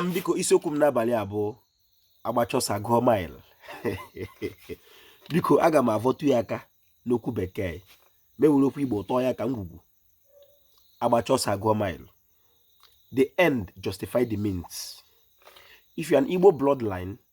m biko isiokwu m n'abalị a bụ agbacha ọsọ agụọ mile biko aga m avọtụ ya aka n'okwu bekee m ewere okwu igbo tọọ ya ka ngwugwu agbacha ọsọ agụọ mile the end justify the means if you are an igbo bloodline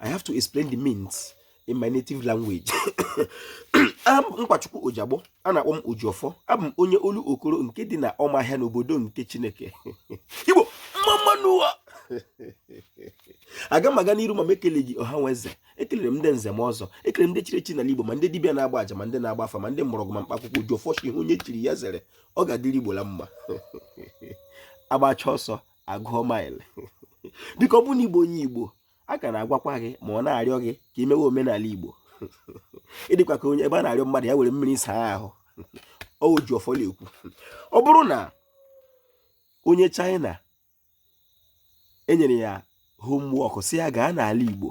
I have to explain the means in my native language I'm Nkwachukwu Ojagbo a na-akpọ m Ojiọfọ abụ m onye Olokoro nke dị na ọmahịa n'obodo nke Chineke Igbo mma mma nụ wo aga m aga n'iru ma m ekele gị ọha nwe eze ekelere m ndị nze ma ọzọ ekelere m ndị chiri echi n'ala Igbo ma ndị dibịa na-agba aja ma ndị na-agba afa ma ndị mgbọrọgwụ ma mkpaakwụkwọ Ojiọfọ sị ihe onye chiri ya zere ọ ga-adịrị Igbo la mma agbacha ọsọ agụọ maịlị biko ọ bụ na igbo onye igbo a ka na-agwakwa gị ma ọ na-arịọ gị ka i mewe omenala igbo ị dịkwa ka onye ebe a na-arịọ mmadụ ya were mmiri saa ahụ Ojiọfọ na-ekwu ọ bụrụ na onye China e nyere ya homework sị ya gaa n'ala igbo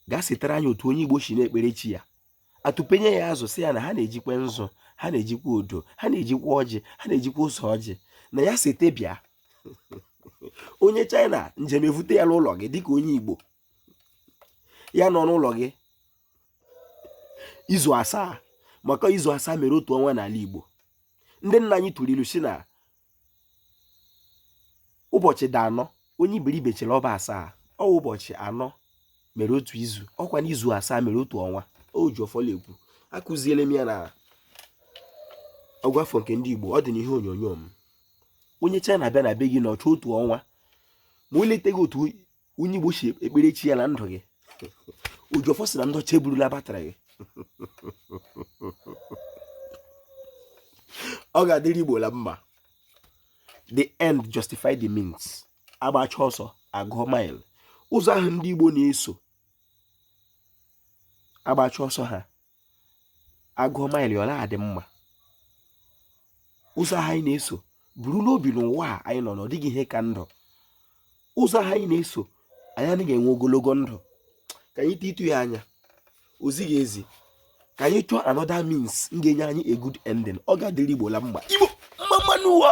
gaa setara anyị otu onye igbo si na-ekpere chi ya atụpenye ya azụ sị ya na ha na-ejikwa nzu ha na-ejikwa odo ha na-ejikwa ọjị ha na-ejikwa ose ọjị na ya sete bịa onye china njem evute ya n'ụlọ gị dịka onye igbo ya nọ n'ụlọ gị izu asaa maka izu asaa mere otu ọnwa n'ala igbo ndị nna anyị tụrụ ilu sị na ụbọchị dị anọ onye iberibe chere ọ bụ asaa ọ wụ ụbọchị anọ mere otu izu ọ kwanụ izu asaa mere otu ọnwa Ojiọfọ la-ekwu akụziele m ya na ọgụafọ nke ndị Igbo ọ dị n'ihe onyonyo m onye China bịa na be gị nọchaa otu ọnwa ma o leteghị otu onye igbo si ekpere chi ya na ndụ gị Ojiọfọ sị na ndị ọcha eburula batrị gị ọ ga-adịrị igbo la mma the end justify the means agbacha ọsọ agụọ mile ụzọ ahụ ndị igbo na-eso agbacha ọsọ ha agụọ maịlị ọ la-adị mma ụzọ ahụ anyị na-eso buru n'obi n'ụwa a anyị nọ na ọ dịghị ihe ka ndụ ụzọ ahụ anyị na-eso anyị anaghị enwe ogologo ndụ ka anyị titụ ya anya o zighị ezi ka anyị chọọ another means ga-enye anyị a good ending ọ ga-adịrị igbo la mma igbo mma mma nụ wo